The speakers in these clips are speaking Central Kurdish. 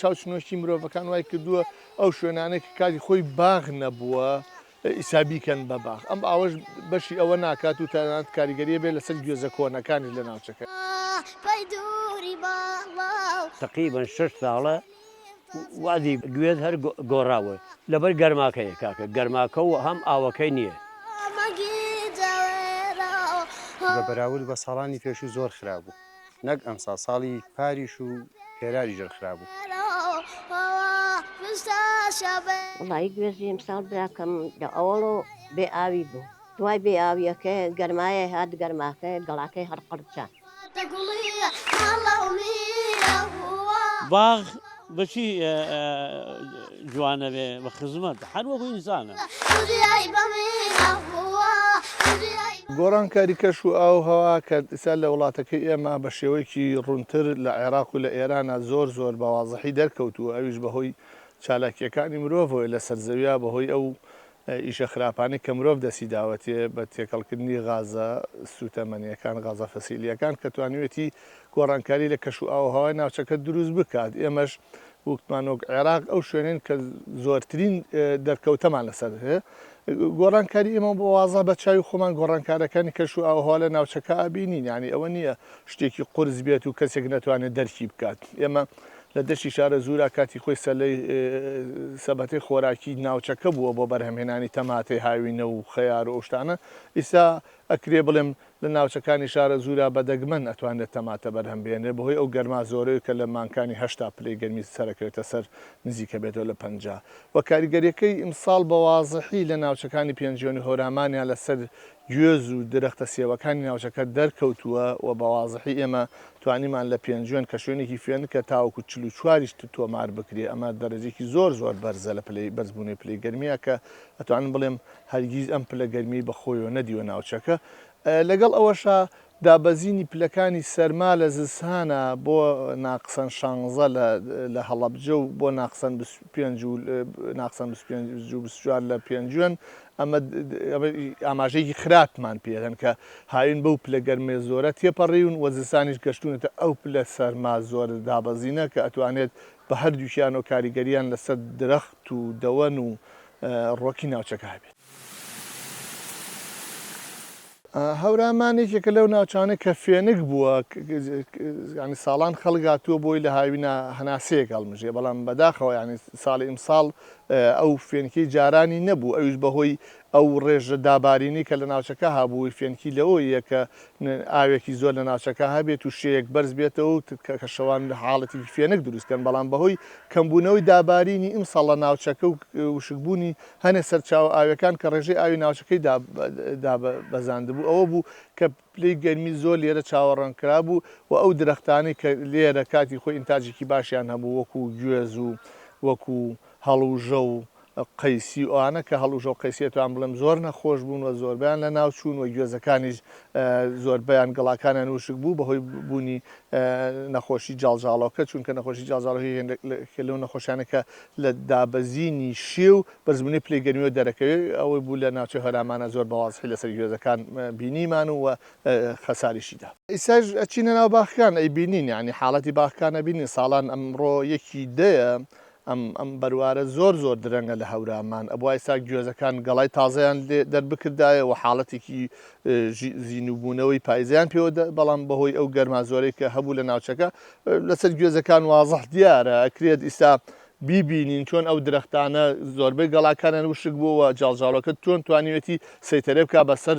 چاوچنۆکی مرۆڤەکان وای کردووە ئەو شوێنانەی کە کاتی خۆی باغ نەبووە ئیستا بیکەن بە باغ ئەم ئاوەش بەشی ئەوە ناکات و تەنانەت کاریگەریە بێت لەسەر گوێزە کۆنەکانیش لە ناوچەکە. تەقریبەن شەش ساڵە وازی گوێت هەر گۆڕاوە لەبەر گەرماکەیە کاکە گەرماکە و هەم ئاوەکەی نییە. بە بەراورد بە ساڵانی پێشوو زۆر خراپ بوو نەک ئەمساڵ ساڵی پاریش و پێراری ژەر خراپ بوو. وەڵایی گوێزی ئمساڵ براکەم لە ئەوەڵۆ بێ ئاوی بوو دوای بێ ئاویەکەی گەرمایەی هات گەرماکەی گەڵاکەی هەر قرچا. باغ بە چی جوان ئەبێ؟ بە خزمەت، هەر وەکو ئینسانە. گۆڕانکاری کەش و ئاو و هەوا کە ئیستا لە وڵاتەکەی ئێمە بە شێوەیەکی ڕوونتر لە عێراق و لە ئێرانە زۆر زۆر بە وازحی دەرکەوتووە ئەویش بە هۆی چالاکییەکانی مرۆڤەوەی لە سەر زەویا بە هۆی ئەو ئیشە خراپانەی کە مرۆڤ دەستی داوەتێ بە تێکەڵکردنی غازە سووتەمەنییەکان، غازە فسیلییەکان کە توانیوێتی گۆڕانکاری لە کەش و ئاووهەوای ناوچەکە دروست بکات، ئێمەش وکتمان وەک عێراق ئەو شوێنەین کە زۆرترین دەرکەوتەمان لەسەر هەیە. گۆڕانکاری ئێمە بە وازە بە چاوی خۆمان گۆڕانکارەکانی کەش و ئاووهەوا لە ناوچەکە ئەبینین، یانی ئەوە نییە شتێکی قورس بێت و کەسێک نەتوانێت دەرکی بکات. ئێمە لە دەشتی شارەزوورا کاتی خۆی سەلەی سەبەتەی خۆراکی ناوچەکە بووە بۆ بەرهەمهێنانی تەماتەی هاوینە و خەیار و ئەو شتانە، ئیستا ئەکرێ بڵێم لە ناوچەکانی شارەزوورا بە دەگمەن ئەتوانرێت تەماتە بەرهەم بهێنرێت بەهۆی ئەو گەرما زۆرەی کە لە مانگکانی هەشتا پلەی گەرمی سەرەکەوێتە سەر نزیک ئەبێتەوە لە پەنجا وە کاریگەریەکەی ئیمساڵ بە وازحی لە ناوچەکانی پێنجوێن و هۆرامانیا لەسەر گوێز و درەختە سێوەکانی ناوچەکە دەرکەوتووە و بە وازحی ئێمە توانیمان لە پێنجوێن کە شوێنێکی فێنکە تاوەکو چل و چوار ی شت تۆمار بکرێ ئەمە دەرەجەیەکی زۆر زۆر بەرزە لە پلەی بەرزبوونەوەی پلەی گەرمییە کە ئەتوانم بڵێم هەرگیز ئەم پلە گەرمییەی بە خۆیەوە نەدیوە ناوچەکە لەگەڵ ئەوەشا دابەزینی پلەکانی سەرما لە زستانا بۆ ناقسەن شانزە لە هەڵەبجە و بۆ ناقسەن بیست و پێنج و ناقسەن بیست و پێنج و بیست و چوار لە پێنجوێن، ئەمە ئاماژەیەکی خراپمان پێ دەن کە هاوین بەو پلە گەرمە زۆرە تێپەڕیون و زستانیش گەشتوونەتە ئەو پلە سەرما زۆرە دابەزینە کە ئەتوانێت بە هەردووکیانەوە کاریگەرییان لەسەر درەخت و دەوەن و ڕۆکی ناوچەکە هەبێت. هەورامان یەکێکە لەو ناوچانەی کە فێنک بووە، ساڵان خەڵک هاتووە بۆی لە هاوینا هەناسەیەک هەڵمژێ، بەڵام بەداخەوە ساڵی ئیمساڵ ئەو فێنکی جارانی نەبوو، ئەویش بەهۆی ئەو ڕێژە دابارینەی کە لە ناوچەکە هابووی فێنکی لەوەوە یە کە ئاوێکی زۆر لە ناوچەکە هەبێت و شێیەک بەرز بێتەوە و کە شەوان حاڵەتێکی فێنک دروست کەن، بەڵام بەهۆی کەمبوونەوەی دابارینی ئیمساڵ لە ناوچەکە و وشکبوونی هەنێ سەرچاوە ئاویەکان کە ڕێژەی ئاوی ناوچەکەی دابەزاندبوو ئەوە بوو کە پلەی گەرمی زۆر لێرە چاوەڕان کرابوو و ئەو درەختانەی کە لێرە کاتی خۆی ئینتاجێکی باشیان هەبوو وەکو گوێز و وەکو هەڵوژە و قەیسی و ئەوانە کە هەڵوژە و قەیسی ئەتوانم بڵێم زۆر نەخۆش بوون و زۆربەیان لە ناو چوون و گوێزەکانیش زۆربەیان گەڵاکانیان وشک بوو بەهۆی بوونی نەخۆشی جاڵجاڵۆکە چونکە نەخۆشی جاڵجاڵۆکە هێندێک لەو نەخۆشیانە کە لە دابەزینی شێو بە زمنی پلەی گەرمیەوە دەرەکەوێ ئەوەی بوو لە ناوچەی هەرامانە زۆر بە وازحی لەسەر گوێزەکان بینیمان و خەساریشی دا. ئیساش ئەچینە ناو باخەکان ئەیبینین یانی حاڵەتی باخەکان ئەبینین ساڵان ئەمڕۆ یەکی دەیە ئەم ئەم بەروارە زۆر زۆر درەنگە لە هەورامان، ئەبوا ئیستا گوێزەکان گەڵای تازەیان لێ دەربکردایە و حاڵەتێکی زینووبوونەوەی پایزیان پێوە دا، بەڵام بەهۆی ئەو گەرما زۆرەی کە هەبوو لە ناوچەکە لەسەر گوێزەکان وازح دیارە، ئەکرێت ئیستا بیبینین چۆن ئەو درەختانە زۆربەی گەڵاکانیان وشک بووە و جاڵجاڵۆکە تۆن توانیوێتی سەیتەرێ بکا بەسەر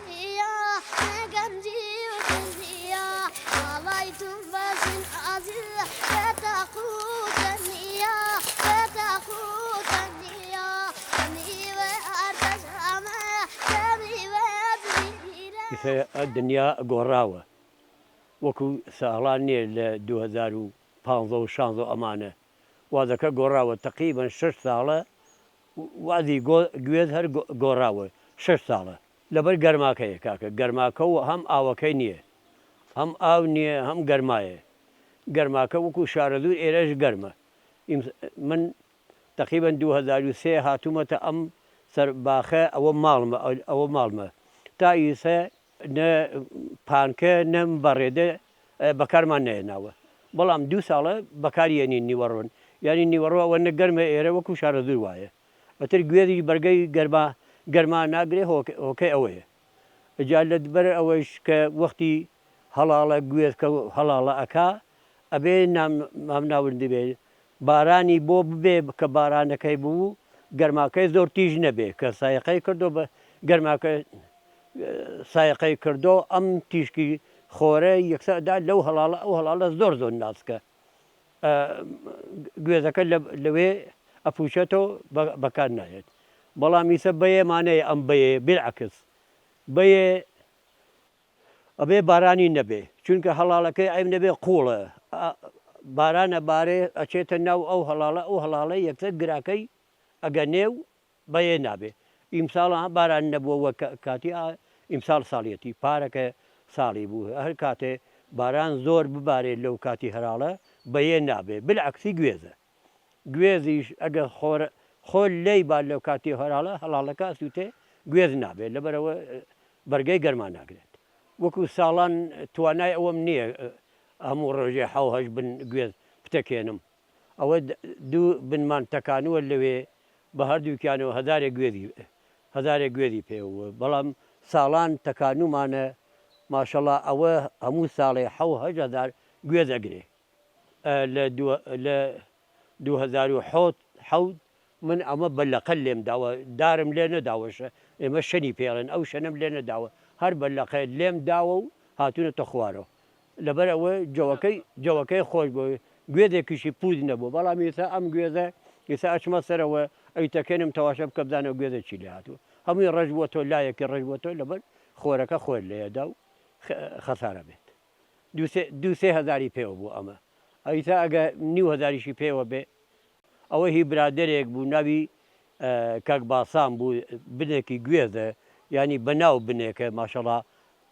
دنیا گۆڕاوە وەکو ساڵان نیە لە دوو هەزار و پازدە و شازدە و ئەمانە وادەکە گۆڕاوە تەقیبەن شەش ساڵە وەعدی گوێت هەر گۆڕاوە شەش ساڵە. لەبەر گەرماکەیە کاکە گەرماکە و هەم ئاوەکەی نییە هەم ئاو نییە هەم گەرمایە گەرماکە وەکو شارەزوور ئێرەش گەرمە ئیمس من تەقیبەن دوو هەزار و سێ هاتوومەتە ئەم سەر باخە ئەوە ماڵمە ئەوە ماڵمە تا ئیسە نە پانکە نە بەڕێدە بەکارمان نەهێناوە بەڵام دوو ساڵە بەکاری یەنین نیوەڕۆن یانی نیوەڕۆ ئەوە نە گەرمە ئێرە وەکو شارەزوور وایە ئەتر گوێزیش بەرگەی گەرما گەرما ناگرێ هۆکەی ئەوەیە جا لە بەر ئەوەیش کە وەختی هەڵاڵە گوێزکە هەڵاڵە ئەکا ئەبێ نام مام ناوردبێ بارانی بۆ ببێ کە بارانەکەی بوو گەرماکەی زۆر تیژ نەبێ کە سایەقەی کردو بە گەرماکە سایەقەی کردو ئەم تیشکی خۆرە یەکسەر دا لەو هەڵاڵە ئەو هەڵاڵە زۆر زۆر ناسکە ئە گوێزەکە لە لەوێ ئەپوشێتەوە بە بەکار نایەت بەڵام ئیسە بەیەمانەیە ئەم بەیە بلعکس بەیە ئەبێ بارانی نەبێ چونکە هەڵاڵەکەی عەیب نەبێ قوڵە باران ئەبارێ ئەچێتە ناو ئەو هەڵاڵە ئەو هەڵاڵە یەکسەر گراکەی ئەگەنێ و بەیێ نابێ ئیمساڵە باران نەبووە وە کاتی ئیمساڵ ساڵیەتی پارەکە ساڵی بوو هەر کاتێ باران زۆر ببارێت لەو کاتی هەراڵە بەیێ نابێ بالعکسی گوێزە گوێزیش ئەگەر خۆر خۆر لێی بات لەو کاتی هەراڵە هەڵاڵەکە ئەسووتێ گوێز نابێت لەبەرەوە بەرگەی گەرما ناگرێت وەکو ساڵان توانای ئەوەم نییە هەموو ڕۆژێ حەو هەشت بن گوێز بتەکێنم ئەوە دوو بنمان تەکانووە لەوێ بە هەردووکیانەوە هەزارێک گوێزی هەزارێک گوێزی پێ بووە بەڵام ساڵان تەکانوومانە ماشەڵا ئەوە هەموو ساڵێ حەو هەشت هەزار گوێز ئەگرێ لە لە دوو هەزار و حەوت حەوت من ئەمە بە لەقە لێم داوە دارم لێ نەداوە شە ئێمە شەنی پێڵێن ئەو شەنەم لێ نەداوە هەر بە لەقە لێم داوە و هاتوونەتە خوارەوە لەبەر ئەوە جەوەکەی جەوەکەی خۆش بۆ گوێزێکیشی پووز نەبوو بەڵام ئێستا ئەم گوێزە ئێستا ئەچمە سەرەوە ئەیتەکێنم تەواشە بکە بزانە ئەو گوێزە چی لێ هاتووە هەمووی ڕەش بووەتەوە لایەکی ڕەش بووەتەوە لەبەر خۆرەکە خۆر لێ دا و خەسارە بێت دوو سێ هەزاری پێوە بوو ئەمە ئەویتا ئەگە نیو هەزاریشی پێوە بێ ئەوە هی برادەرێک بوو ناوی کاک باسان بوو بنێکی گوێزە ینی بەناو بنێکە ماشەڵا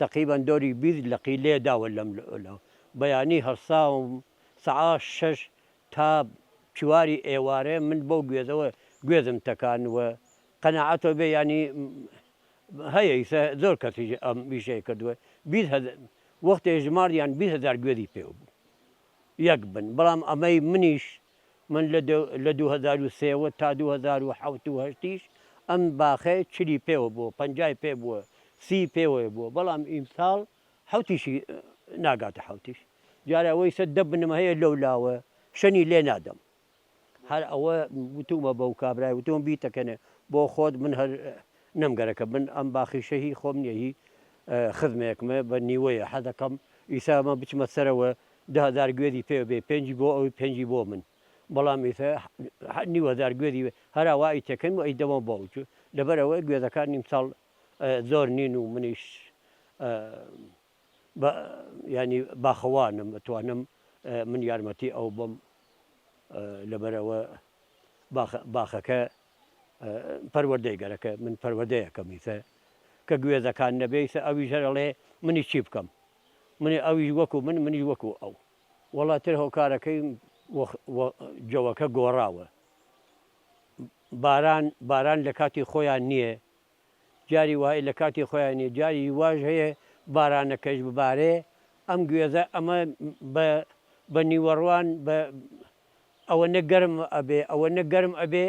تەقیبەن دۆری بیست لەقی لێ داوە لەم لەو بەیانی هەڵساوم سەعا شەش تا چواری ئێوارێ من بەو گوێزەوە گوێزم تەکان وە قەناعەتەوە بێ ینی هەیە ئیسە زۆر کەسیش ئەم ئیشەی کردوە بیست هە وەختێ ژماردیان بیست هەزار گوێزی پێوە بوو یەک بن بەڵام ئەمەی منیش من لە دو لە دوو هەزار و سێ وە تا دوو هەزار و حەوت و هەشتیش ئەم باخەی چلی پێوە بووە پەنجای پێ بووە سی پێوەێ بووە بەڵام ئیمساڵ حەوتیشی ناگاتە حەوتیش دیارە ئەوەی سە دە بنم هەیە لەو لاوە شەنی لێ نادەم هەر ئەوە وتومە بەو کابرای وتوم بیتەکەنێ بۆ خۆت من هەر نەم گەرەکە بن ئەم باخیشە هی خۆم نیە هی خزمێکمە بە نیوەیە حەزەکەم ئیسا ئەمە بچمە سەرەوە دە هەزار گوێزی پێ بێ پێنجی بۆ ئەوی پێنجی بۆ من بەڵام ئیسا نیو هەزار گوێزی هەراوا ئەی تێکەن و ئەی دەمە بۆ ئەوچ لەبەرەوەی گوێزەکان نیم ساڵ زۆر نین و منیش بە یانی باخەوانم ئەتوانم من یارمەتی ئەو بم لەبەرەوە باخەکە پەروەردەی گەرەکە من پەروەدەیەکەمیتە کە گوێزەکان نەبێیتە ئەوی ژەرەڵێ منی چی بکەم منی ئەویش وەکو من منی وەکو ئەو وڵاتر هۆکارەکەی جەوەکە گۆڕاوە باران باران لە کاتی خۆیان نییە جاری وایە لە کاتی خۆیان نیە جاری واش هەیە بارانەکەش ببارێ ئەم گوێزە ئەمە بە بە نیوەڕوان بە ئەوەنە گەرم ئەبێ ئەوەنە گەرم ئەبێ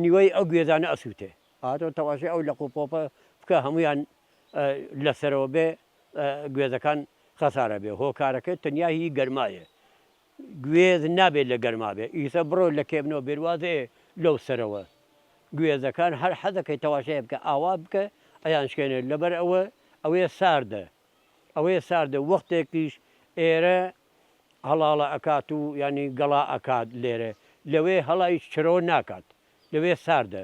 نیوەی ئەو گوێزانە ئەسووتێ ئاتۆ تەواشێ ئەو لەق و پۆپە بکە هەمویان لەسەرەوە بێ گوێزەکان خەسارە بێ هۆکارەکە تەنیا هی گەرمایە گوێز نابێت لە گەرما بێت ئیسە بڕۆ لە کێ بنەوە بێت واز ئێ لەو سەرەوە گوێزەکان هەر حەزەکەی تەواشەیە بکە ئاوا بکە ئەیان شکێنێت لەبەر ئەوە ئەوێ ساردە ئەوێ ساردە وەختێکیش ئێرە هەڵاڵە ئەکات و یانی گەڵا ئەکات لێرە لەوێ هەڵایش چرۆ ناکات لەوێ ساردە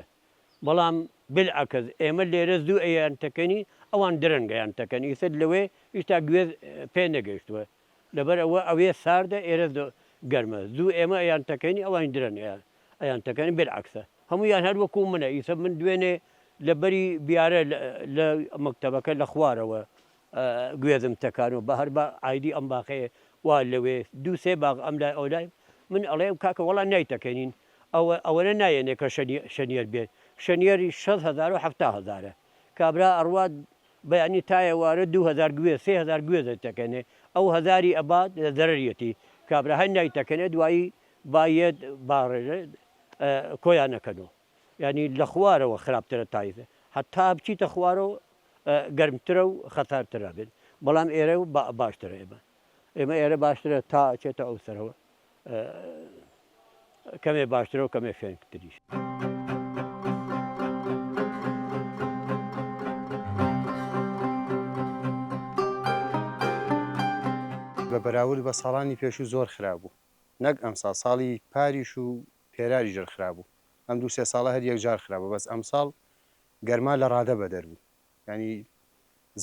بەڵام بلعکس ئێمە لێرە زوو ئەیان تەکەنی ئەوان درەنگەیان تەکەن ئیسە لەوێ ئیشتا گوێز پێ نەگەشتووە لەبەر ئەوە ئەوێ ساردە ئێرە گەرمە زوو ئێمە ئەیان تەکەین ئەوانیش درەنگ ئەیان ئەیان تەکەن بێلعەکسە هەموویان هەر وەکوو منە ئیسە من دوێنێ لە بەری بیارە لە مەکتەبەکە لە خوارەوە گوێزم تەکان و بە هەر بە ئایدی ئەم باخەیە وا لەوێ دوو سێ باغ ئەم لای ئەو لای من ئەڵێم کاکە وەڵا نایتەکەنین ئەوە ئەوەنە نایەنێ کە شەنیەر بێت شەنیەری شەست هەزار و حەفتا هەزارە کابرا ئەڕوات بەیانی تا ئێوارە دوو هەزار گوێز سێ هەزار گوێز ئەیتەکەنێ ئەو هەزاری ئەبات لە زەرەریەتی کابرا هەر نایتەکەنێ دوایی با یەت با ڕێژێت کۆیانەکەنۆ یانی لە خوارەوە خراپترە تایزە حەتا بچیتە خوارەوە گەرمترە و خەتار ترابێت بەڵام ئێرە باشترە ئێمە ئێمە ئێرە باشترە تا ئەچێتە ئەو سەرەوە کەمێ باشترەوە کەمێ فێنکتریش. بە بەراورد بە ساڵانی پێشوو زۆر خراپ بوو نەک ئەمساڵ ساڵی پاریش و پێراری ژر خراپ بوو ئەم دوو سێ ساڵە هەر یەکجار خراپە بەس ئەمساڵ گەرما لە ڕادە بەدەر بوو یانی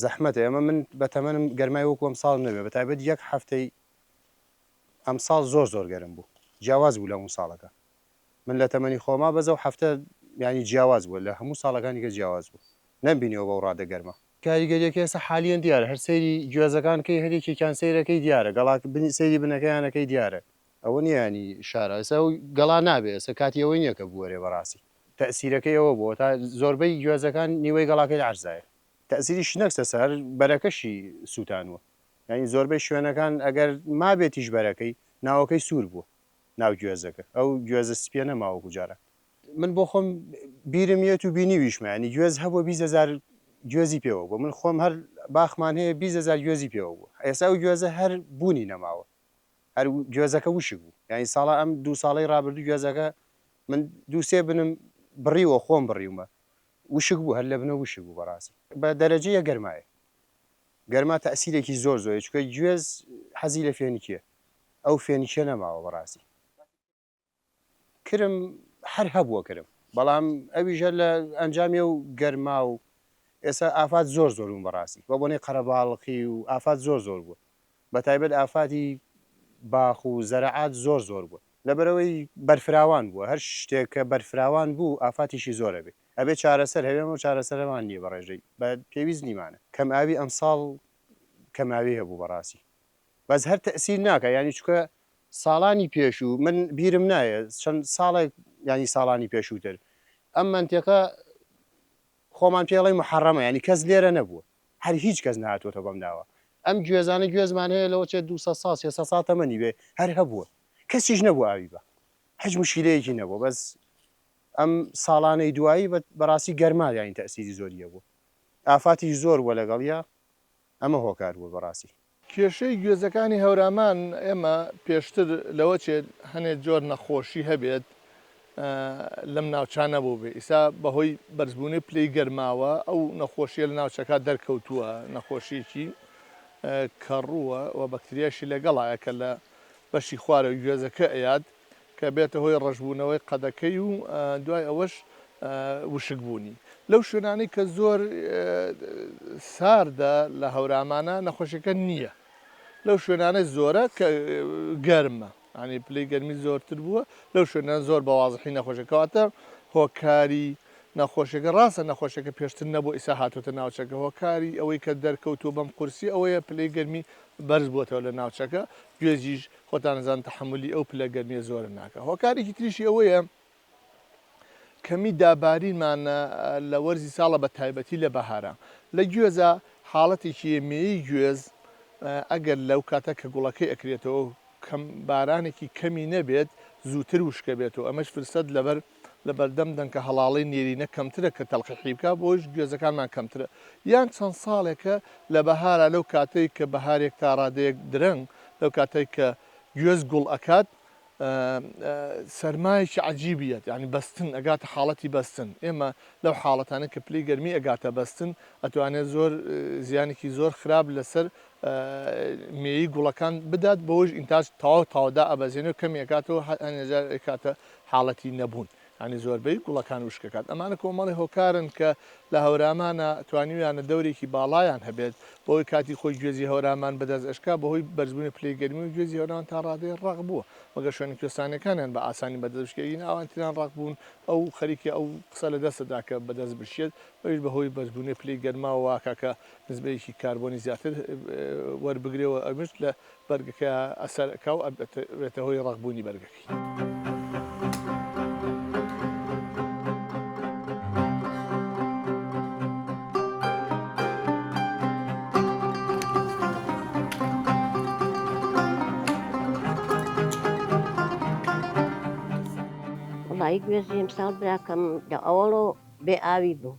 زەحمەتە ئێمە من بە تەمەنم گەرمای وەکو ئەم ساڵ نەبێ بە تایبەت یەک هەفتەی ئەم ساڵ زۆر زۆر گەرم بوو جیاواز بوو لە هەموو ساڵەکە من لە تەمەنی خۆما بەزە و هەفتە ینی جیاواز بوو لە هەموو ساڵەکانی کە جیاواز بوو نەمبینیەوە بەو ڕادە گەرمە کاریگەریەکە ئێستا حالیەن دیارە هەر سەیری گوێزەکان کەی هەر یەکێکیان سەیرەکەی دیارە گەڵاک سەیری بنەکەیانەکەی دیارە. ئەوە نیە یانی شارە ئێستا ئەو گەڵا نابێ ئێستا کاتی ئەوەی نیە کە بوەرێ بەڕاستی تەئسیرەکەی ئەوە بوە تا زۆربەی گوێزەکان نیوەی گەڵاکەی لە عەرزایە تەئسیری شنەکسە سە هەر بەرەکەشی سوتانوە یانی زۆربەی شوێنەکان ئەگەر مابێتیش بەرەکەی ناوەکەی سور بوە ناو گوێزەکە ئەو گوێزە سپیە نەما وەکو جاران من بۆ خۆم بیرم یەت و بینیویشمە یانی گوێز هەبوە بیست هەزار گوێزی پێوە بوە من خۆم هەر باخمان هەیە بیست هەزار گوێزی پێوە بوە ئێستا ئەو گوێزە هەر بونی نەماوە. هەر گوێزەکە وشک بوو یانی ساڵە ئەم دوو ساڵەی ڕابردوو گوێزەکە من دوو سێ بنم بڕیوە خۆم بڕیومە وشک بوو هەر لەبنە وشک بوو بەڕاستی بە دەرەجە یەک گەرمایە گەرما تەئسیرێکی زۆر زۆری چکە گوێز حەزی لە فێنکیە ئەو فێنکیە نەماوە بەڕاستی. کرم هەر هەبووە کرم بەڵام ئەویژە لە ئەنجامی و گەرما و ئێستا ئافات زۆر زۆر بوون بەڕاستی بە بۆنەی قەرەباڵخی و ئافات زۆر زۆر بوون بە تایبەت ئافاتی باخ و زەرەعات زۆر زۆر بوون لەبەرەوەی بەرفراوان بووە هەر شتێک کە بەرفراوان بوو ئافاتیشی زۆر ئەبێ ئەبێ چارەسەر هەبێ ئەمەو چارەسەرەمان نییە بەڕێژەی بە پێویست نیمانە کەم ئاوی ئەمساڵ کەماوی هەبوو بەڕاستی بەس هەر تەئسیر ناکا یانی چونکە ساڵانی پێشو من بیرم نایە چەند ساڵێک یانی ساڵانی پێشوتر ئەم مەنتێقە خۆمان پێڵی محەڕەمە ینی کەس لێرە نەبووە هەر هیچ کەس ناتوەتە بەم ناوە ئەم گوێزانە گوێزمان هەیە لەوە چێت دو سا سێ سا تەمەنی بێ هەر هەبووە کەسیش نەبوو ئاوی بە هەج مشیلەیەکی نەبوو بەس ئەم ساڵانەی دوایی بەڕاستی گەرماویانی تەسیری زۆریە بوو ئافاتی زۆر وە لەگەڵە ئەمە هۆکار بووە بەڕاستی. کێشەی گوێزەکانی هەورامان ئێمە پێشتر لەوە چێت هەنێ جۆر نەخۆشی هەبێت لەم ناوچە نەبووبێ ئیسا بەهۆی بەرزبوونەی پلەی گەرماوە ئەو نەخۆشیە لە ناوچەکە دەرکەوتووە نەخۆشیەکی کەڕووە و بەکتریاشی لەگەڵایە کە لە بەشی خوارەوەی گوێزەکە ئەیات کە بێتە هۆی ڕەشبوونەوەی قەدەکەی و دوای ئەوەش وشکبوونی. لەو شوێنانەی کە زۆر ساردە لە هەورامانە نەخۆشیەکە نییە. لەو شوێنانەی زۆرە کە گەرمە ئەنی پلەی گەرمی زۆرتر بووە لەو شوێنان زۆر بە وازحی نەخۆشەکەواتە هۆکاری نەخۆشیەکە ڕاستە نەخۆشیەکە پێشتر نەبوو ئیسا هاتوتە ناوچەکە هۆکاری ئەوەی کە دەرکەوتووە بەم قورسی ئەوەیە پلەی گەرمی بەرز بووەوە لە ناوچەکە گوێزیش خۆتان ئەزانن تەحەمولی ئەو پلە گەرمیە زۆرە ناکا هۆکارێکی تریشی ئەوەیە کەمی دابارینمان لە وەرزی ساڵە بە تایبەتی لە بەهارە لە گوێزە حاڵەتێکی مێی گوێز ئەگەر لەو کاتە کە گوڵەکەی ئەکرێتەوە کەم بارانێکی کەمی نەبێت زووتر وشکە بێت و ئەمەش فرسەت لەبەر لە بەردەم دەنکە هەڵاڵەی نێرینە کەمترە کە تەلقیحی بکا بۆیش گوێزەکانمان کەمترە یان چەند ساڵێکە لە بەهارا لەو کاتەی کە بەهارێک تا ڕادەیەک درەنگ لەو کاتەی کە گوێز گوڵ ئەکات سەرمایەکی عەجیبی یەت یانی بەستن ئەگاتە حاڵەتی بەستن ئێمە لەو حاڵەتانە کە پلەی گەرمی ئەگاتە بەستن ئەتوانێت زۆر زیانێکی زۆر خراپ لەسەر مێیی گوڵەکان بدات بەوەش ئینتاج تەواو تەواو دائەبەزێنێ و کەمی ئەکاتەوە هەندێ جار ئەیکاتە حاڵەتی نەبوون یانی زۆربەی گوڵەکان وشک ئەکات ئەمانە کۆمەڵی هۆکارن کە لە هەورامانە توانیویانە دەورێکی باڵایان هەبێت بەوەی کاتی خۆی گوێزی هەورامان بەدەست ئەشکا بەهۆی بەرزبوونی پلەی گەرمی و گوێزی هەورامان تا ڕادەیەک ڕەق بووە مەگەر شوێنە کوێستانیەکانیان بە ئاسانی بەدەست بشکێ ئینا ئەوان تریان ڕەق بوون ئەو خەریکە ئەو قسە لە دەستە دا کە بەدەست بشکێت ئەویش بەهۆی بەرزبوونی پلەی گەرماوە واکا کە نسبەیەکی کاربۆنی زیاتر وەربگرێ و ئەمەش لە بەرگەکە ئەسەر ئەکا و ئەبێتە هۆی ڕەق بوونی بەرگەکەی. وەڵایی گوێزی ئەمساڵ براکەم لە ئەوەڵۆ بێ ئاوی بوو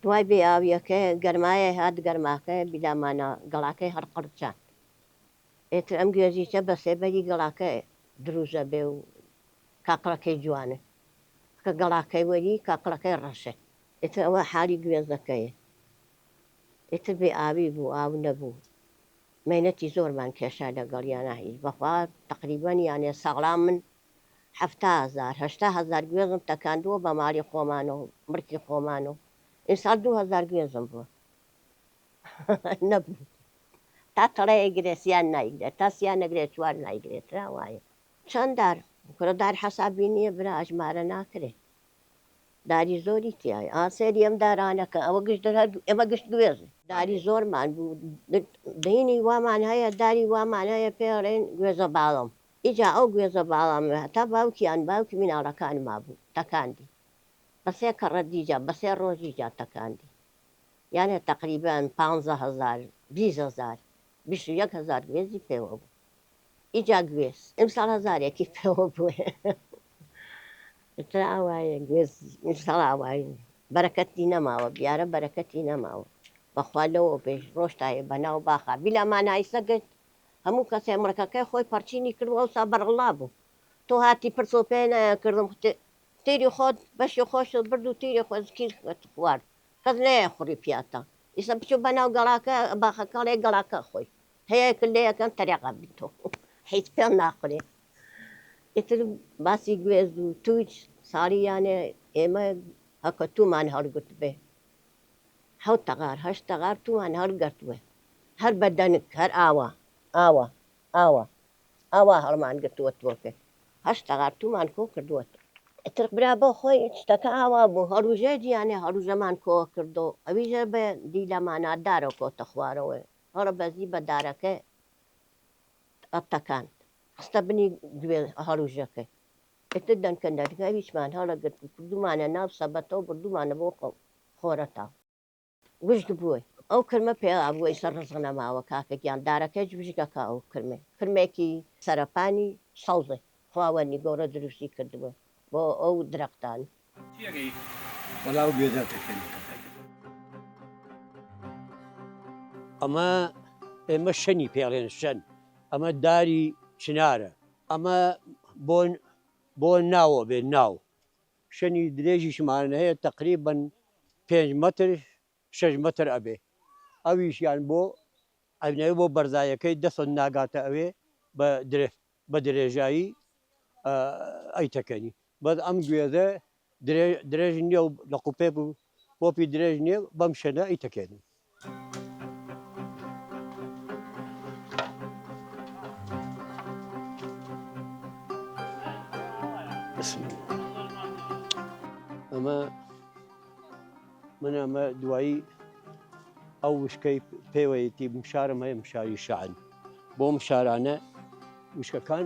دوای بێ ئاویەکەی گەرمایەی هات گەرماکەی بیلامانا گەڵاکەی هەر قڕ چاند ئێتر ئەم گوێزیچە بە سێبەری گەڵاکەی دروست ئەبێ و کاکڵەکەی جوانن کە گەڵاکەی وەری کاکڵەکەی ڕەشن ئێتر ئەوە حالی گوێزەکەی ئێتر بێ ئاوی بوو ئاو نەبوو مەینەتی زۆرمان کێشا لەگەڵیانا هیچ بەخوا تەقریبەن یانێ ساڵان من حەفتا هەزار هەشتا هەزار گوێزم تەکاندووە بە ماڵی خۆمان و ملکی خۆمان و ئیمساڵ دوو هەزار گوێزم بووە نەبوو تا تەڵە ئەیگرێ سیان نایگرێت تا سیان نەگرێت چوار نایگرێت ترا وایە چەند دار کورە دار حەسابی نییە برا ئەژمارە ناکرێ داری زۆری تیای ئا سێری ئەم دارانەکە ئەوە گشت دەر هەر ئێمە گشت گوێزی داری زۆرمان بوو دینی وامان هەیە داری وامان هەیە پێڵێن گوێزە باڵم ئیجا ئەو گوێزە باڵام وێ هەتا باوکی یان باوکی میناڵەکانما بوو تەکاندی بە سێ کەڕە دیجا بە سێ ڕۆژی جا تەکاندی یانێ تەقریبەن پانزە هەزار بیست هەزار بیست و یەک هەزار گوێزی پێوە بوو ئیجا گوێز ئیمساڵ هەزارێکی پێوە بووێ ئیتر ئاوایێ گوێز ئیمساڵ ئاوایێ بەرەکەتی نەماوە بیارە بەرەکەتی نەماوە بەخوا لەوەو بێژ ڕۆشتایێ بەناو باخا بیلا مانایسە گشت هەموو کەسێ مڕکەکەی خۆی پەڕچینی کرد و ئەوسا بەرەڵڵا بوو. تۆ هاتی پرس و پێ نایان کردم تیری خۆت بەشی خۆشت برد و تیری خوێزکیشت خوارد کەس نەیای خوڕی پیاتا ئیسە بچوو بە ناو گەڵاکە باخەکەڵێ گەڵاکە خۆی هەیە کە لێ یەکەن تەریقا بی تۆ حیچ پێ ناخورێ ئیتر باسی گوێز و تووچ ساڵی یانێ ئێمە هەکە توومان هەڵگرت بێ حەوت تەغار هەشت تەغار توومان هەڵگرت بێ هەر بە دەنک هەر ئاوا ئاوا ئاوا ئاوا هەڵمان گرتووە تۆکێ هەشت تەغارتوومان کۆ کردووەت. ئیتر برا بۆ خۆی شتەکە ئاوا بوو هەڵوژێ جیانێ هەڵوژەمان کۆ کردۆ ئەویش هەر بە دیلە مانادارۆ کۆتە خوارەوەێ هەڵە بەزی بە دارەکە ە تەکاند خستە بنی گوێ هەڵوژەکەی ئیتر دەنکە دەنکە ئەویشمان هەڵە گرت و کردوومانە ناو سەبەتەو بردوومانە بۆ خۆرەتاو. وشک بووی ئەو کرمە پێا بووە ئیسە ڕزق نەماوە کاکە گیان دارەکەیچ وشکەکە ئەو کرمەی کرمێکی سەرەپانی سەوزە خواوەنی گۆڕە دروستی کردبووە بۆ ئەو درەختان. تێگەی وەڵا ئەو گوێزە تەکێنەکە. ئەمە ئێمە شەنی پێڵێن شەن ئەمە داری چنارە ئەمە بۆن بۆ ناوە بێ ناو شنی درێژیشمان هەیە تەقریبەن پێنج مەتر شەش مەتر ئەبێ ئەویشیان بۆ ئەبنەوێ بۆ بەرزایەکەی دە سەد ناگاتە ئەوێ بە درێ بە درێژایی ئەیتەکەنی بەس ئەم گوێزە درێژ درێژ نییە و لەقوپێک و پۆپی درێژ نیە بەم شەنە ی تەکێنن. ئەمە من ئەمە دوایی ئەو وشکەی پێوەیەتی مشارم هەیە مشاری شعن بۆ مشارانە وشکەکان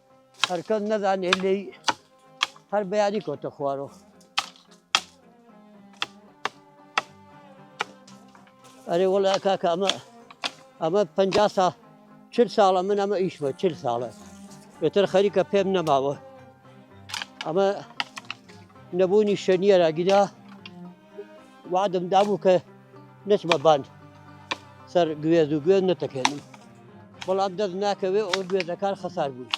هەرکەس نەزانێت لێی هەر بەیانی کۆتە خوارۆ ئەرێ وڵا کاکە ئەمە ئەمە پ سا چ ساڵە من ئەمە ئیشمە چ ساڵە بێتر خەریکە پێم نەماوە ئەمە نەبوونی شەنیە راگیدا وەعدم دابوو کە نەچمە بان سەر گوێز و گوێز نەتەکێنم بەڵام دەست ناکەوێ ئەو گوێزەکان خەسار بوون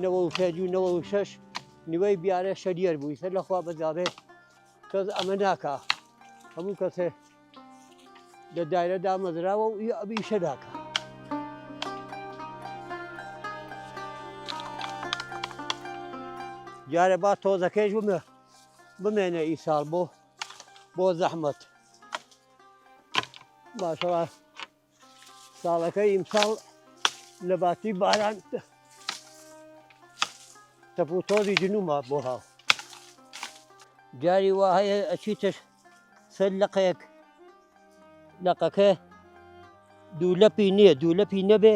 نەوە و پێج و نەوە و شەش نیوەی بیارە شەریەر بووی سەر لەخوا بەجاابێ کەس ئەمە ناکە هەموو کەسێ لە دایرە دامەزراوە و ئەبی شە ناکە دیارە با تۆزەکەیش بمێ بمێنە ئیساڵ بۆ بۆ زەحمەت باشەوە ساڵەکە ئیمساڵ لە باتی باران تەپ و تۆزی جنوما بۆ هاو جاری وا هەیە ئەچیتر سەر لەقەیەک لەقەکە دوو لەپی نییە دوو لەپی نەبێ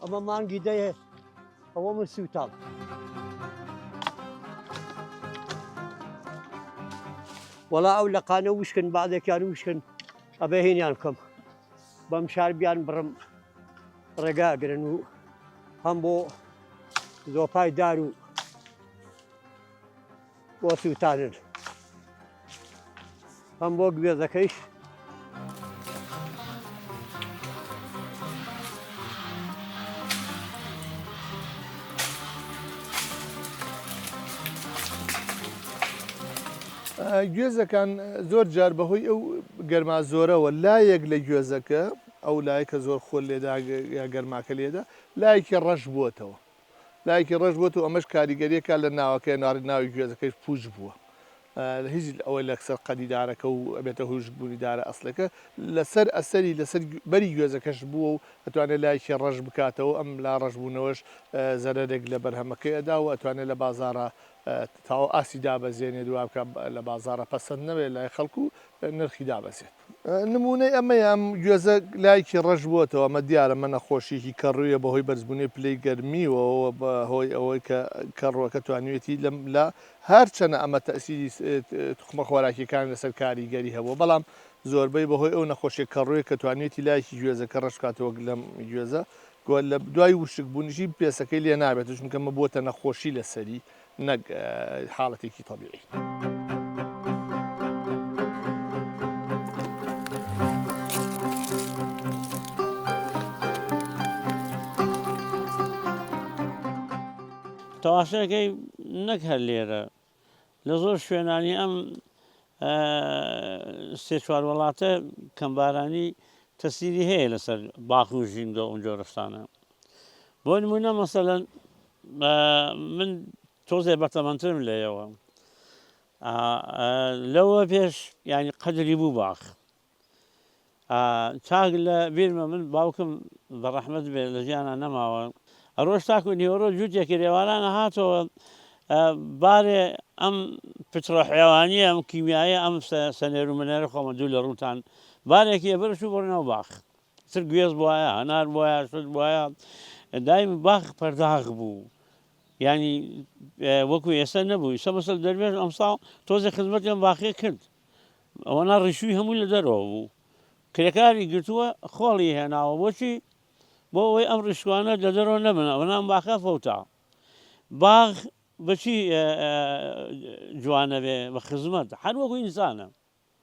ئەمە مانگی دەیە ئەوە من سووتاڵ. وەڵا ئەو لە قانە وشکن بعدێکیان وشکن ئەبێ هینیان بکەم بەم شار بیان بڕم ڕێگاگرن و هەم بۆ زۆپای دار و بۆ سووتانن هەم بۆ گوێزەکەیش گوێزەکان زۆر جار بەهۆی ئەو گەرما زۆرەوە لایەک لە گوێزەکە ئەو لایەکە زۆر خۆل لێدا یا گەرماکە لێدا لایەکی ڕەش بووتەوە لایکی ڕەش بۆ تۆ ئەمەش کاریگەریەکە لە ناوەکەی ناڕی ناوی گوێزەکەش پوچ بووە هیچ ئەوەی لەکسەر قەدیدارەکە و ئەبێتە هوش بوونی دارە ئەسلەکە لەسەر ئەسەری لەسەر بەری گوێزەکەش بووە و ئەتوانێت لایکی ڕەش بکاتەوە ئەم لا ڕەشبوونەوەش زەرەرێک لە بەرهەمەکەی ئەدا و ئەتوانێت لە بازارە تاو ئاسی دابەزێنێت دوابکە لە بازارە پەسەند نەوێت لای خەڵکو نرخی دابەزێت نموونەی ئەمەیە ئەم گوێزە لایکی ڕەش بووەتەوە ئەمە دیارە مە نەخۆشیەکی کەڕوویە بەهۆی بەرزبوونەی پلەی گەرمیوەوە بە هۆی ئەوەی کە کەڕووەکە توانیوێتی لەم لە هەرچەنە ئەمە تەسیری تخمە خۆراکیەکان لەسەر کاریگەری هەبووە بەڵام زۆربەی بەهۆی ئەو نەخۆشیە کەڕوویە کە توانیوێتی لایکی گوێزەکە ڕەش بکاتەوە وەک لەم گوێزە گۆ لە دوای وشک بوونیشی پێسەکەی لێ نابێت چونکە مە بووەتە نەخۆشی لەسەری نەک حاڵەتێکی تەبیعی. تەواشەکەی نەک هەر لێرە لە زۆر شوێنانی ئەم سێ چوار وڵاتە کەمبارانی تەسیری هەیە لەسەر باخ و ژینگە ئەو جۆرەشتانە بۆ نمونە مەسەلەن من تۆزێ بەتەمەنترم لە یەوە لەوە پێش یعنی قەدری بوو باخ چاک لە بیرمە من باوکم بە ڕەحمەت بێ لە ژیانە نەماوە ئەرۆژ تاکو نیوەڕۆ جووتێکی رێوارانە هاتەوە بارێ ئەم پتڕە حێوانیە ئەم کیمیایە ئەم سەنێر و منێرە خۆمە دوو لە ڕووتان بارێکی ئەبرش و بڕنەوە باخ چ گوێز بوایە هەنار بوایە شت بوایە دای باخ پەرداخ بوو ینی وەکو ئێستا نەبوو ئیسە بەسەر دەروێش ئەمساڵ تۆزە خزمەتیان باخێ کرد ئەوەنا ڕیشووی هەمووی لە دەرەوە بوو کرێکاری گرتووە خۆڵی هێناوە بۆچی بۆ ئەوەی ئەم ڕیشوانە لە دەرەوە نەبن ئەوەنام باخە فەوتا باغ بەچی جوانە بێ بە خزمەت هەر وەکو ئینسانە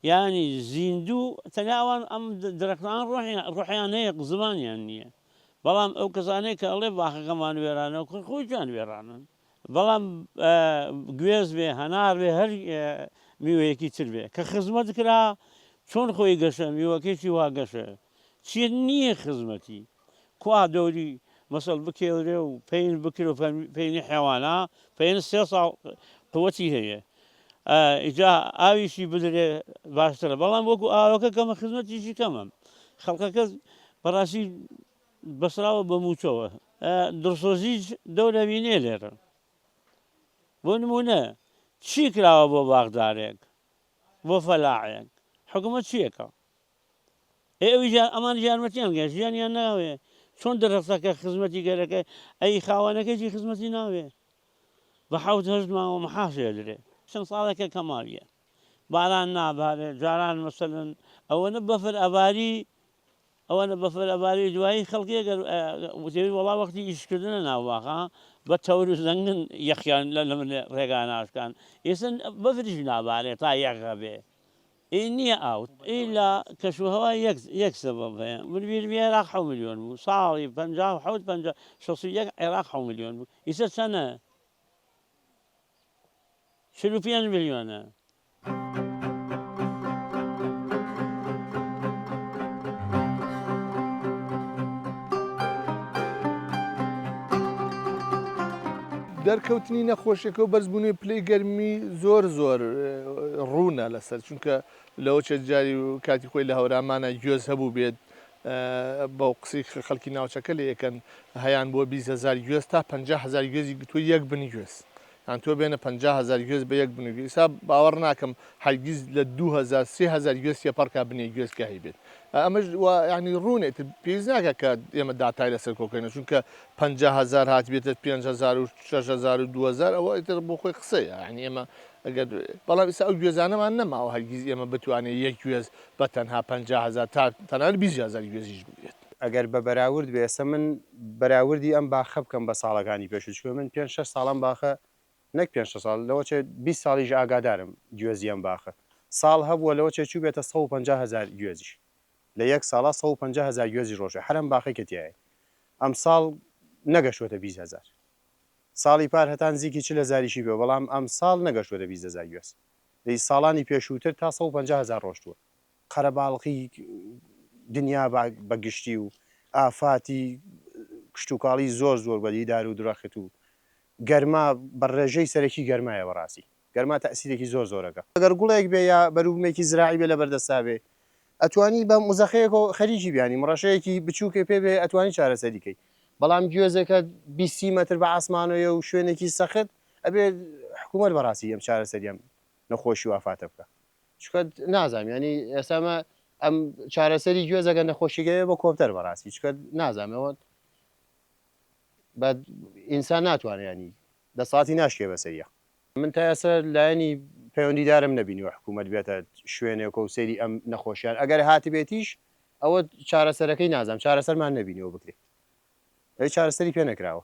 یانی زیندو تەنیا ئەوان ئەم درەختانە ڕۆحیان ڕۆحیان هەیە زمانیان نیە بەڵام ئەو کەسانەی کە ئەڵێ باخەکەمان وێرانە خۆی خۆیان وێرانن بەڵام گوێز بێ هەنار بێ هەر میوەیەکی تر بێ کە خزمەت کرا چۆن خۆی گەشە میوەکەیشی وا گەشە چیە نیە خزمەتی کوا دەوری مەسەڵ بکێورێ و پەین بکرێ و پەینی حێوانا پەین سێ ساڵ قوەتی هەیە ئیجا ئاویشی بدرێ باشترە بەڵام وەکو ئاوەکە کەمە خزمەتیشی کەمە خەڵکەکە بەڕاستی بەسراوە بە موچەوە دڵسۆزیش دەورەوینێ لێرە بۆ نمونە چی کراوە بۆ باغدارێک بۆ فەلاعێک حکومە چیەکە ئێ ئەویش ئەمانیش یارمەتیان گە ژیانیان ناوێ چۆن دەرەستەکە خزمەتی گەرەکە ئەی خاوانەکەیی خزمەتی ناوێ بە حوت هەشت ماوە محاشێ درێ چەند ساڵێکە کەماویە باران نابارێ جاران مەسەن ئەوەنە بەفر ئەباری ئەوەنە بەفر ئەباری دوایی خەڵکی گەر وتێوی وڵا وەختی ئیشکردنە ناوواخە بە تەور و زەنگن یەخیان لە لە من ڕێگا ناشکان ئێسن بەفریش نابارێ تا یەغەبێ ئی نیە ئاوت ئی لە کەش و هەوا یەک یەک سەبەب هەیە مرویر بی عێراق حەو ملیۆن بوو ساڵی پەنجا و حەوت پەنجا شەست و یەک عێراق حەو ملیۆن بوو ئیسە چەنە چل و پێنج ملیۆنە. دەرکەوتنی نەخۆشیەکە و بەرزبوونەوەی پلەی گەرمی زۆر زۆر ڕوونە لەسەر چونکە لەوە چەند جاری و کاتی خۆی لە هەورامانە گوێز هەبوو بێت بەو قسەی کە خەڵکی ناوچەکە لێ یەکەن هەیان بۆ بیست هەزار گوێز تا پەنجا هەزار گوێزی گرتووە یەک بن گوێز یان تۆ بێنە پەنجا هەزار گوێز بە یەک بن و گوێز ئیسا باوەڕ ناکەم هەرگیز لە دوو هەزار سێ هەزار گوێز تێپەڕکا بنێ گوێز کە هەیبێت ئەمەش یانی ڕوونێت پێویست ناکە کە ئێمە داتای لەسەر کۆکەینە چونکە پەنجا هەزار هاتبێتە پێنج هەزار و شەش هەزار و دوو هەزار ئەوە ئیتر بۆ خۆی قسەیە یانی ئێمە ئەگەر بەڵام ئیسا ئەو گوێزانەمان نەماوە هەرگیز ئێمە بتوانێت یەک گوێز بە تەنها پەنجا هەزار تا تەنانەت بیست هەزار گوێزیش بگرێت. ئەگەر بە بەراورد بێ ئێستا من بەراوردی ئەم باخە بکەم بە ساڵەکانی پێشوو چونکە من پێنج شەش ساڵە ئەم باخە نەک پێنج شەش ساڵ لەوە چێ بیست ساڵیش ئاگادارم گوێزی ئەم باخە ساڵ هەبووە لەوە چێ چووبێتە سەد و پەنجا هەزار گوێزیش لە یەک ساڵا سەد و پەنجا هەزار گوێزی ڕۆژێ حەرەم باقی کە تیایەی ئەم ساڵ نەگەشتوەتە بیست هەزار ساڵی پار هەتا نزیکی چل هەزاریشی بێ بەڵام ئەم ساڵ نەگەشتوەتە بیست هەزار گوێز لە ساڵانی پێشووتر تا سەد و پەنجا هەزار ڕۆشتوە قەرەباڵخی دنیا بە گشتی و ئافاتی کشتوکاڵی زۆر زۆر بە دیدار و درەخت و گەرما بە ڕێژەی سەرەکی گەرمایە بەڕاستی. گەرما تەئسیرێکی زۆر زۆرەکە ئەگەر گوڵێک بێ یا بەروبومێکی زراعی بێ لەبەر دەستا بێ ئەتوانی بە مزەخەیەکۆ خەریکی بێ یانی مڕەشەیەکی بچوکێ پێ بێ ئەتوانی چارەسەری کەی بەڵام گوێزێکە بیست سی مەتر بە عاسمانۆیە و شوێنێکی سەخت ئەبێ حکومەت بەڕاستی ئەم چارەسەری ئەم نەخۆشی و ئافاتە بکا چکە نازام یانی ئێستا مە ئەم چارەسەری گوێزەگە نەخۆشیگەێ بە کۆپتەر بەڕاستی چکە نازامەوە بە ئینسان ناتوانێ ینی دەسەڵاتی ناشکێ بەسەریا. من تا ئێستا لایەنی پەیوەندیدارم نەبینیوە حکومەت بێتە شوێنێکۆ و سەیری ئەم نەخۆشیان ئەگەر هاتبێتیش ئەوە چارەسەرەکەی نازانم چارەسەرمان نەبینیوە بکرێت ئەوی چارەسەری پێ نەکراوە.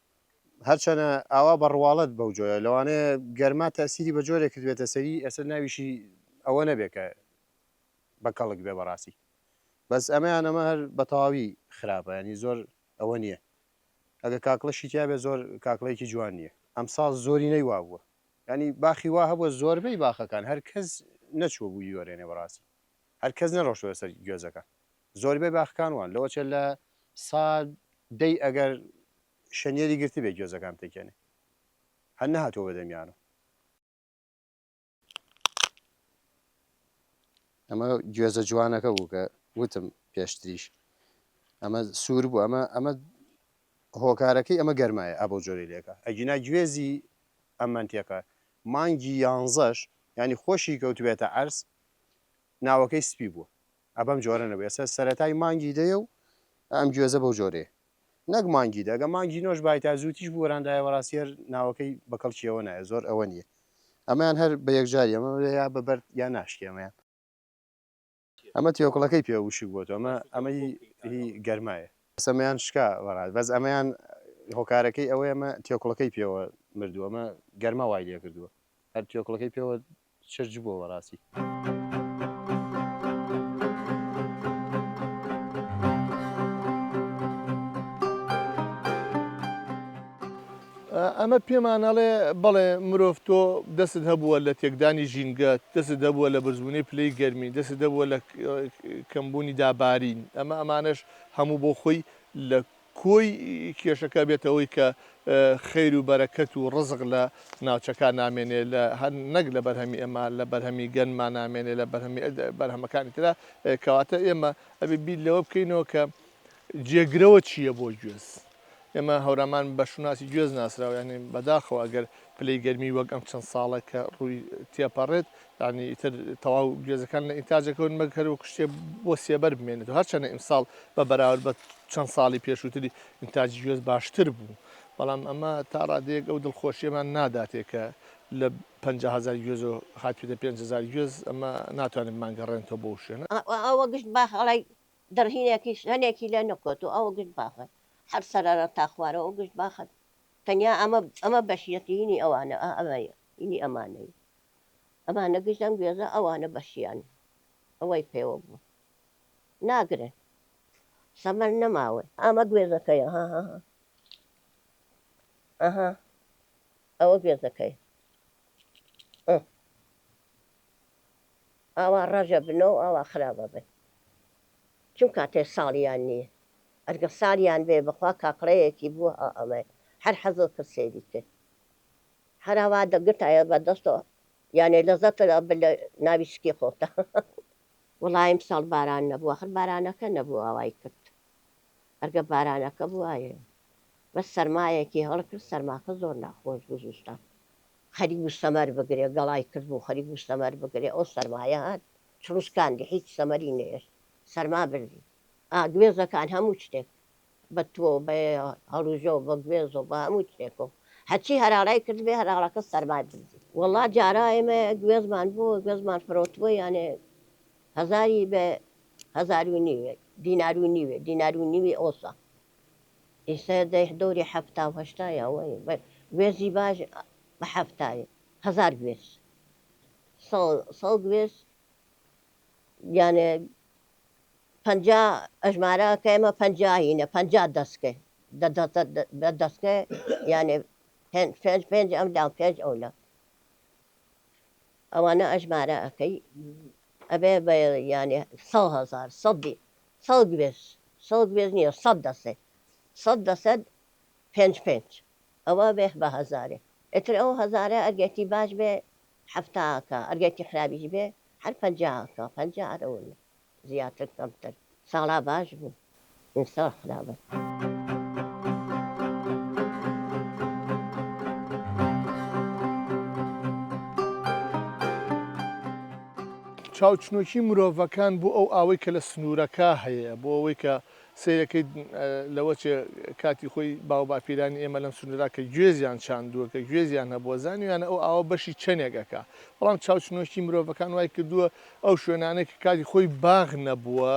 هەرچەنە ئاوا بە ڕواڵەت بەو جۆرە، لەوانەیە گەرما تەئسیری بە جۆرێک کردبێتە سەری ئێستا ناویشی ئەوە نەبێ کە بە کەڵک بێ بەڕاستی. بەس ئەمە یان ئەمە هەر بە تەواوی خراپە یانی زۆر ئەوە نییە. ئەگە کاکڵەشی تیا بێ زۆر کاکڵەیەکی جوان نییە. ئەم ساڵ زۆرینەی وا بووە. یانی باخی وا هەبووە زۆربەی باخەکان هەر کەس نەچووە بووی بیوەرێنێ بەڕاستی. هەر کەس نەڕۆشتووە سەر گوێزەکان. زۆربەی باخکان وان لەوەچێ لە سا دەی ئەگەر شەنیەری گرتبێ گوێزەکان پێکێنێ هەر نەهاتوە بەدەمیانم ئەمە گوێزە جوانەکە بوو کە وتم پێشتریش ئەمە سوور بوو ئەمە ئەمە هۆکارەکەی ئەمە گەرمایە ئە بۆ جۆری لێکە ئەگینا گوێزی ئەم منتێقە مانگی یانزەش ینی خۆشی کەوتبێتە عرس ناوەکەی سپی بووە ئا بەم جۆرە نەبێ ئێستا سەرەتای مانگی دەیە و ئەم گوێزە بەو جۆرەیە نەک مانگی دە گە مانگی نۆش بای تا زووتیش بوەراندایە وەڕاستی هەر ناوەکەی بە کەڵکیەوە نایە زۆر ئەوە نییە ئەمەیان هەر بە یەکجاری ئەمە یا بە بەرد یا ناشکی ئەمەیان ئەمە تێوکڵەکەی پێ وشک بۆ تۆ ئەمە ئەمە هی هی گەرمایە سەمەیان شکا وەڕات بەس ئەمەیان هۆکارەکەی ئەوەیە ئەمە تێوکڵەکەی پێوە مردووە ئەمە گەرما وای لێ کردووە هەر تێوکڵەکەی پێوە چرچ بووە بەڕاستی. ئەمە پێمانەڵێ بەڵێ مرۆڤ تۆ دەست هەبووە لە تێکدانی ژینگە دەست دەبووە لە بەرزبوونی پلەی گەرمی دەست دەبووە لە کەمبوونی دابارین ئەمە ئەمانش هەموو بۆ خۆی لە کۆی کێشەکە بێتە هۆی کە خەیر و بەرەکەت و ڕزق لە ناوچەکە نامێنێ لە نەک لە بەرهەمی ئێمە لە بەرهەمی گەنما نامێنێ لە بەرهەمی بەرهەمەکانی ترا کەواتە ئێمە ئەبێ بیر لەوە بکەینەوە کە جێگرەوە چییە بۆ گوێز ئێمە هەورامان بە شوناسی گوێز ناسراویانین بەداخەوە ئەگەر پلەی گەرمی وەک ئەم چەند ساڵە کە ڕووی تێپەڕێت یانی ئیتر تەواو گوێزەکان لە ئینتاج ئەکەون مەگ هەر وەکو شتێ بۆ سێبەر بمێنێت و هەرچەنە ئیمساڵ بە بەراورد بە چەند ساڵی پێشووتری ئینتاجی گوێز باشتر بوو بەڵام ئەمە تا ڕادەیەک ئەو دڵخۆشیەمان ناداتێ کە لە پەنجا هەزار گوێزەوە هاتبێتە پێنج هەزار گوێز ئەمە ناتوانێت مانگەڕێنتەوە بۆ ئەو شوێنە. ئەوە گشت باخەڵەی دڕهینێکیش هەنێکی لێ نەکۆتووە ئەوە گشت باخە هەر سەرەرە تا خوارەوە گشت باخە تەنیا ئەمە ئەمە بەشیەتی هینی ئەوانە ئا ئەمەیە هینی ئەمانەیە ئەمان نەگژ ئەم گوێزە ئەوانە بەشیان ئەوەی پێوە بوو ناگرن سەمەر نەماوە. ئەمە گوێزەکەیە هاهاها ئەها ئەوە گوێزەکەیە ئە ئاوا ڕەژە بنۆ ئاوا خراپە بن چون کاتێ ساڵیان نییە ئەرگە سالیان بێ بەخوا کاکڵەیەکی بووە ئا ئەمە هەر حەزۆ کرد سەیری کرد. هەرەوا دەگرتایە بە دەستۆ یانێ لەزەتت ئەبرد لە ناوی سکی خۆتدا. وەڵا ئیمساڵ باران نەبوو ئاخر بارانەکە نەبوو ئاوای کرد ئەرگە بارانەکە بوایە بەس سەرمایەکی هەڵکرد سەرماکە زۆر ناخۆش بوو زستان خەریک بوو سەمەر بگرێ گەڵای کردبوو خەریک بوو سەمەر بگرێ ئەو سەرمایە هات چڕوسکاندی هیچ سەمەری نەهێشت سەرما بردی ئا گوێزەکان هەموو شتێک بە تۆ و بە هەڵوژە و بە گوێز و بە هەموو چێک و هەرچی هەراڵای کردبێ هەراڵەکە سەرمای بردی. وەڵا جارا ئێمە گوێزمان بۆ گوێزمان فرۆتبووە یانێ هەزاری بە هەزار و نیوێ دینار و نیوێ دینار و نیوی ئۆسە ئیسە دەی دەوری حەفتا و هەشتا یا وەی بە گوێزی باش بە حەفتای هەزار گوێز سەو سەو گوێز یانێ پەنجا ئەژمارە کە ئێمە پەنجا هینە پەنجا دەسکێ دە دەسکێ یانێ پێنج پێنج ئەم دام پێنج ئەو لە ئەوانە ئەژمارە ئەەکەی ئەبێ بە یانێ سە هزار سەدی سەڵ گوێز سەڵ گوێز نییە سەد دەسێ سەد دەسەد پێنج پێنج ئەوە بێ بە هەزارێ ئتر ئەو هەزارە ئەگەتی باش بێ حەفتا ئەکا ئەگەر تیحرابیش بێ هەر پەنجا ئەکا پەنجا ئەرەوون زیاتر کەمتر ساڵا باش بوو ئیمساڵ خرابە. چاوچنۆکی مرۆڤەکان بۆ ئەو ئاوەی کە لە سنوورەکە هەیە بۆ ئەوەی کە سەیرەکەیت لەوە چێ کاتی خۆی باو باپیرانی ئێمە لەم سنورا کە گوێزیان چاندووە کە گوێزیان هەبووە زانیویانە ئەو ئاوە بەشی چەنێک ئەکا بەڵام چاوچنۆکی مرۆڤەکان وای کردووە ئەو شوێنانەی کە کاتی خۆی باغ نەبووە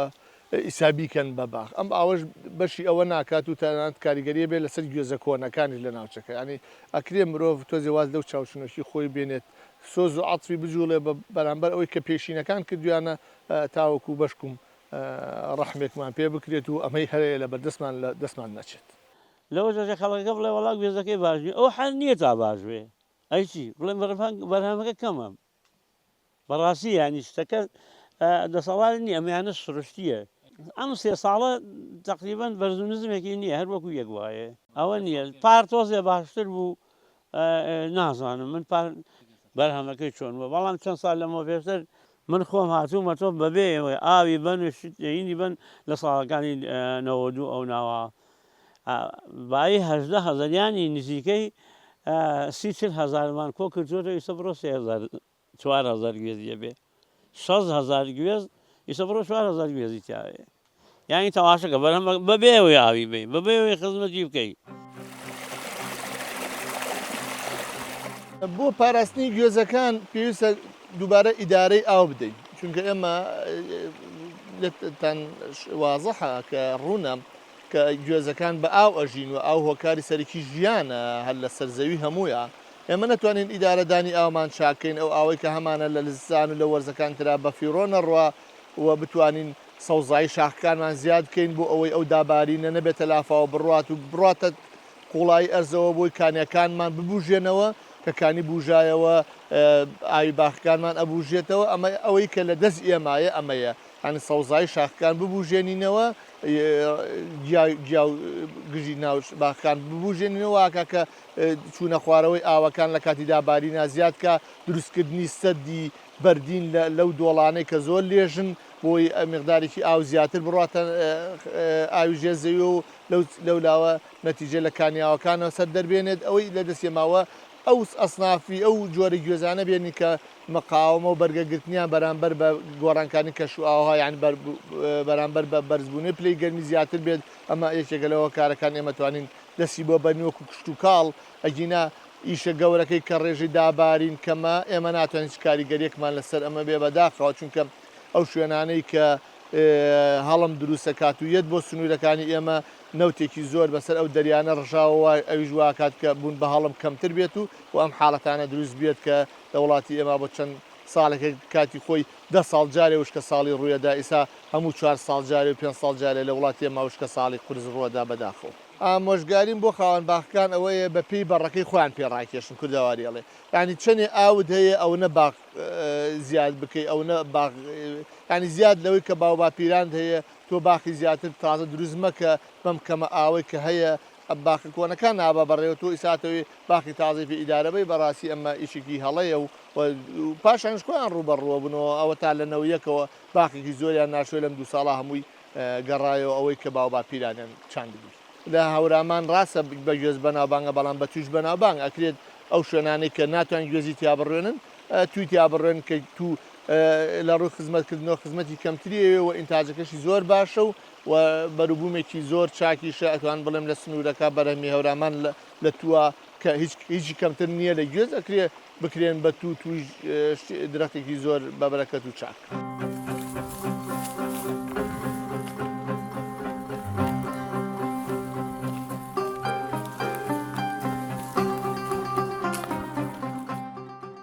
ئیستا بیکەن بە باغ ئەم ئاوەش بەشی ئەوە ناکات و تەنانەت کاریگەریە بێت لەسەر گوێزە کۆنەکانیش لە ناوچەکە یانی ئەکرێ مرۆڤ تۆزێ واز لەو چاوچنۆکی خۆی بێنێت سۆز و عەتفی بجوڵێ بە بەرامبەر ئەوەی کە پێشینەکان کردویانە تاوەکو بەشکوم ڕەحمێکمان پێ بکرێت و ئەمەی هەیە لە بەردەستمان لە دەستمان نەچێت. لەوە جاشە خەڵکەکە بڵێ وەڵا گوێزەکەی باش نیە ئەو حەل نیە تا باش بێ ئەی چی بڵێ بەرهەمەکە کەمە بەڕاستی یانی شتەکە دەسەڵات نیە ئەمیانە سروشتیە ئەم سێ ساڵە تقریبان بەرزونزمێکی نییە هەر وەکو یەک وایە ئەوە نییە پار تۆزێ باشتر بوو نازانم من پار بەرهەمەکەی چۆن بووە بەڵام چەند سال لەمەوە پێشتر من خۆم هاتوومە تۆ بەبێ ئەوەی ئاوی بەن و شت هینی بەن لە ساڵەکانی نەوەد و دوو ئەو ناوە ئا بایی هەژدە هەزار یانی نزیکەی سی چل هەزارمان کۆ کردووەتەوە ئیستا بڕۆ سێ هەزار چوار هەزار گوێزی ئەبێ شەست هەزار گوێز ئیسە بڕۆ چوار هەزار گوێزی تیاێ یانی تەواشەکە بەرهەم بەبێ ئەوەی ئاوی بی بەبێ ئەوەی خزمەتی بکەیت بۆ پاراستنی گوێزەکان پێویستە دووبارە ئیدارەی ئاو بدەین چونکە ئێمە لەتان وازەحە کە ڕوونە کە گوێزەکان بە ئاو ئەژین و ئاو هۆکاری سەرکی ژیانە هەر لە سەرزەوی هەموویە ئێمە نەتوانین ئیدارە دانی ئاومان چاک کەین ئەو ئاوەی کە هەمانە لە زستان و لە وەرزەکان ترا بە فیڕۆ نەڕوا و بتوانین سەوزایی شاخەکانمان زیاد کەین بۆ ئەوەی ئەو دابارینە نەبێتە لافاوە بڕوات و بڕاتە قوڵایی ئەرزەوە بۆی کانیەکانمان ببوژێنەوە کە کانی بوژایەوە ئاوی باخەکانمان ئەبوژێتەوە ئەمە ئەوەی کە لە دەست ئێمایە ئەمەیە هەنی سەوزایی شاخەکان ببوژێنینەوە گیا گیا گژی ناوش باخان ببوژێنینەوە کە چوونە خوارەوەی ئاوەکان لە کاتی دابارینا زیاد کا، دروستکردنی سەدی بەردین لەو دۆڵانەی کە زۆر لێژن بۆی میقدارێکی ئاو زیاتر بڕاتە ئاوی ژێر زەویەوە و لەولاوە نەتیجە لە کانیاوەکانەوە سەر دەربێنێت ئەوەی لە دەستێ ماوە ئەو ئەسنافی ئەو جۆرە گوێزانە بێنی کە مقاومە و بەرگەگرتنیان بەرامبەر بە گۆڕانکانی کەش و ئاوها یان بەرامبەر بە بەرزبوونەی پلەی گەرمی زیاتر بێت ئەمە یەکێکە لەوە کارەکان ئێمە توانین دەستی بۆ بەرن وەکو کشتوکاڵ، ئەگینا ئیشە گەورەکەی کە ڕێژەی دابارین کەمە، ئێمە ناتوانین هیچ کاریگەریەکمان لەسەر ئەمە بێ بەداخەوە، چونکە ئەو شوێنانەی کە هەڵم دروست ئەکات و یەت بۆ سنوورەکانی ئێمە نەوتێکی زۆر بەسەر ئەو دەریانە ڕژاوەوە ئەویش واکات کە بوون بە هەڵم کەمتر بێت و ئەم حاڵەتانە دروست بێت کە لە وڵاتی ئێمە بۆ چەند ساڵێکە کاتی خۆی دە ساڵ جارێ وشکە ساڵی ڕویەدا ئیسا هەموو چوار ساڵ جارێ و پێنج ساڵ جارێ لە وڵاتی ئێمە وشکە ساڵی قورس ڕوەدا بەداخەوە. ئامۆژگاریم بۆ خاوەن باخەکان ئەوەیە بە پێی بەڕەکەی خۆیان پێ ڕاکێشن کوردەواری ئەڵێ یانی چەنێ ئاوت هەیە ئەونە باخ زیاد بکەی ئەونە باخ یانی زیاد لەوەی کە باوباپیرانت هەیە تۆ باخی زیاتر تازە دروست مەکە بەم کەمە ئاوەی کە هەیە ئە باخە کۆنە کا نابە بە رێوە تۆ ئیسا ئەتەوێ باخی تازەی پێ ئیدارە بەی بە راسی ئە مە ئیشێکی هە ڵەیە و و پاشانیش خۆیان روو بە رووە بنەوە ئە وە تا لە نە ویەکەوە باخێکی زۆریان ناشۆی لەم دوو ساڵە هە مووی گە رایەوە ئە وەی کە باو باپیرانیان چاندبووی لە هە ورامان راسە بە گوێز بە ناوبانگە بە ڵام بە تووش بە ناوبانگ ئە کرێت ئە و شوێنانەی کە ناتوان گوێزی تیا بڕوێنن تووی تیا بڕوێن کە توو لە رووی خزمەت کردنەوە خزمەتی کەمتری ئەوێ و ئینتاجەکەشی زۆر باشە و و بەروبوومێکی زۆر چاکیشە، ئەتوانم بڵێم لە سنوورەکە بەرهەمی هەورامان لە تووە کە هیچی کەمتر نییە لە گوێز ئەکرێ بکرێن بە توو توویش درەختێکی زۆر بە بەرەکەت و چاک.